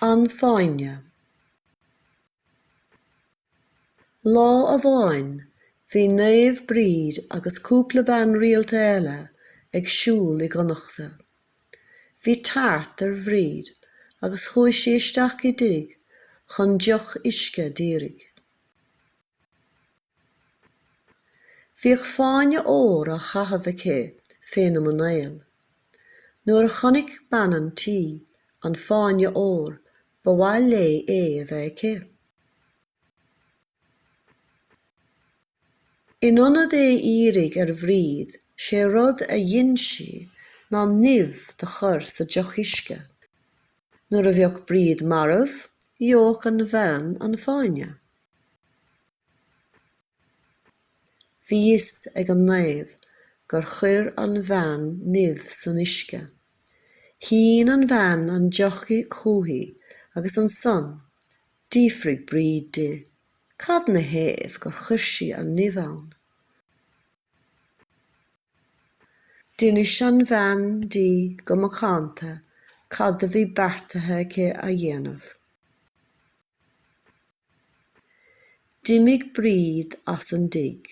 An Fáinne. Lá amháin bhí Naomh Bríd agus cúpla bean rialta eile ag siúl i gConnachta. Bhí tart ar Bhríd agus chuaigh sí isteach i dtigh chun deoch uisce d'iarraidh. Bhíodh fáinne óir á chaitheamh aici féna muinéal. Nuair a chonaic bean an tí an fáinne óir ba mhaith léi é a bheith aici. In ionad é a iarraidh ar Bhríd sé rud a dhein sí ná nimh do chur sa deoch uisce. Nuair a bheadh Bríd marbh gheobhadh an bhean an fáinne. Bhí fhios ag an naomh gur chuir an bhean nimh san uisce. Shín an bhean an deoch chúithi agus ansan d'fhiafraigh Bríd di cad 'na thaobh gur chuir sí an nimh ann. D'inis an bhean di go macánta cad do bhí beartaithe aici a dhéanamh. D'imigh Bríd as an dtigh.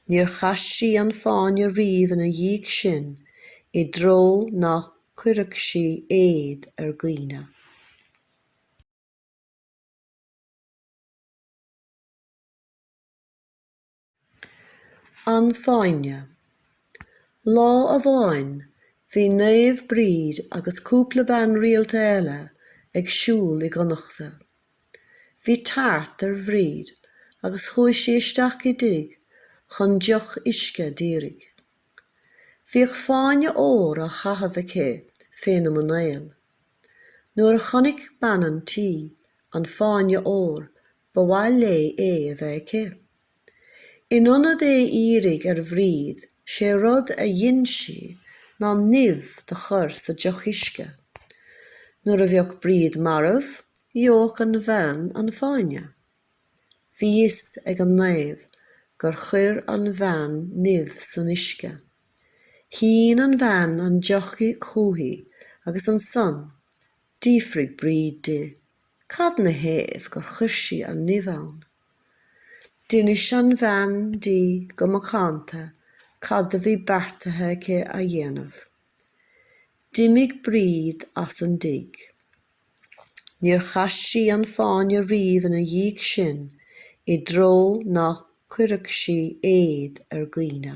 Níor chaith sí an fáinne riamh ina dhiaidh sin i dtreo ná cuirfeadh sí éad ar dhaoine. An Fáinne. Lá amháin bhí Naomh Bríd agus cúpla bean rialta eile ag siúl i gConnachta. Bhí tart ar Bhríd agus chuaigh sí isteach i dtigh chun deoch uisce d'iarraidh. Bhíodh fáinne óir á chaitheamh aici féna muinéal. Nuair a chonaic bean an tí an fáinne óir Ba mhaith léi é a bheith aici. In ionad é a iarraidh ar Bhríd, sé rud a dhein sí ná nimh do chur sa deoch uisce. Nuair a bheadh Bríd marbh, gheobhadh an bhean an fáinne. Bhí fhios ag an naomh gur chuir an bhean nimh san uisce. Shín an bhean an deoch chúithi agus ansan D'fhiafraigh Bríd di cad 'na thaobh gur chuir sí an nimh ann. D'inis an bhean di go macánta cad a bhí beartaithe aici a dhéanamh. D'imigh Bríd as an dtigh. Níor chaith sí an fáinne riamh ina dhiaidh sin i dtreo ná cuirfeadh sí éad ar dhaoine.